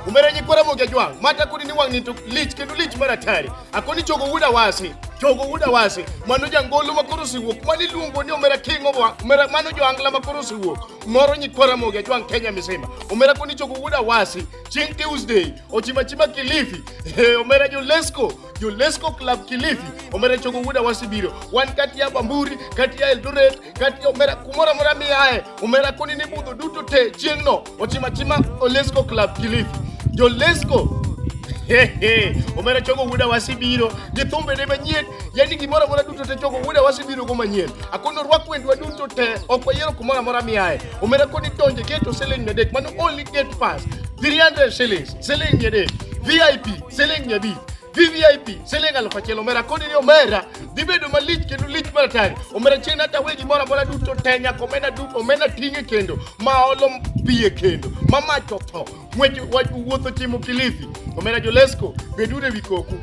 umeranyikwara moke jwang mata kudi ni wang' ni to lich kendo lich mar atari akoni chogo wuda wasi chogo wuda wasi mano jangolo ma koro siwuok mani luongo ni omera king of omera mano joangla ma koro siwuok moro nyikwara moke jwang' kenya misima omera koni chogo wuda wasi chieng' tuesday ochimachima kilifi omera jolesco jolesco club kilifi omera chogo wuda wasi biro wan kati ya bamburi kati ya eldoret kati omera kumoro amora miaye omera koni ni budho duto te chieng'no ochima chima olesco club kilifi jolesco omera chogo wuda wasibiro gi thumbene manyien yani gimoro amora duto te chogo wuda wasibiro go manyien akono rwak wendwa duto te ok wayiero kumoro amora miaye omera koni donje geto siling mia adek mano only gate pass 300 shillings siling mia adek vip siling mia abich VVIP siling alufu achiel omera kodi ni omera dhi bedo malich kendo lich mar atari omera chien hata wegi moro amora duto te nyaka omena duto omena ting'e kendo ma olo piye kendo ma mach otho ng'wech wach wuotho chimo kilifi omera jolesko beduru ewi koku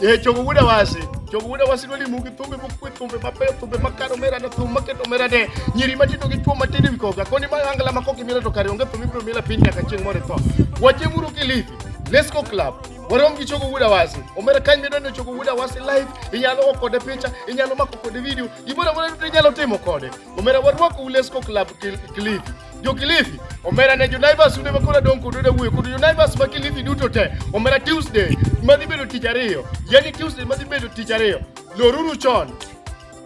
e chogo wuda wasi chogo wuda wasi noli mugi thumbe mokwe thumbe mabeyo thumbe makano omera ne thum maketo omera ne nyiri matindo gi chwo matindo ewi koka koni ma angla ma koki mila to kare onge thum ibiro mila piny nyaka chieng' moro itho wachemuru kilifi lesko club warom gi chogo wuda wasi omera kany midwa ni chogo wuda wasi live inyalo go kode picha inyalo mako kode video gimoro amora duto inyalo timo kode omera warwako ulesco club kilifi jo kilifi omera ne jonaivas ude makoro adong kod ude wuoyo kod jonaivas ma kilifi duto te omera tuesday madhi bedo tich ariyo yani tuesday madhi bedo tich ariyo loruru chon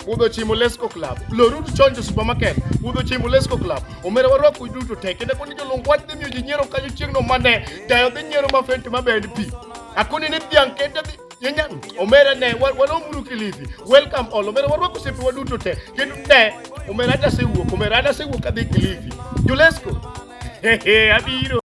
Wuodho chimo Lesco Club, Lorud Chonjo Supermarket, Wuodho chimo Lesco Club. Omera warwako duto te kendo koni jolong wach dhi miyo ji nyiero kanyo chieng'no mane dayo dhi nyiero ma fenti ma bend pi. Akoni ni dhiang' kete dhi Yenya, omera ne walomuru Kilifi. Welcome all. Omera warwako sepe waduto te. Kendo ne omera adasewuok, omera adasewuok adhi Kilifi. Julesco. Hehe, abiro.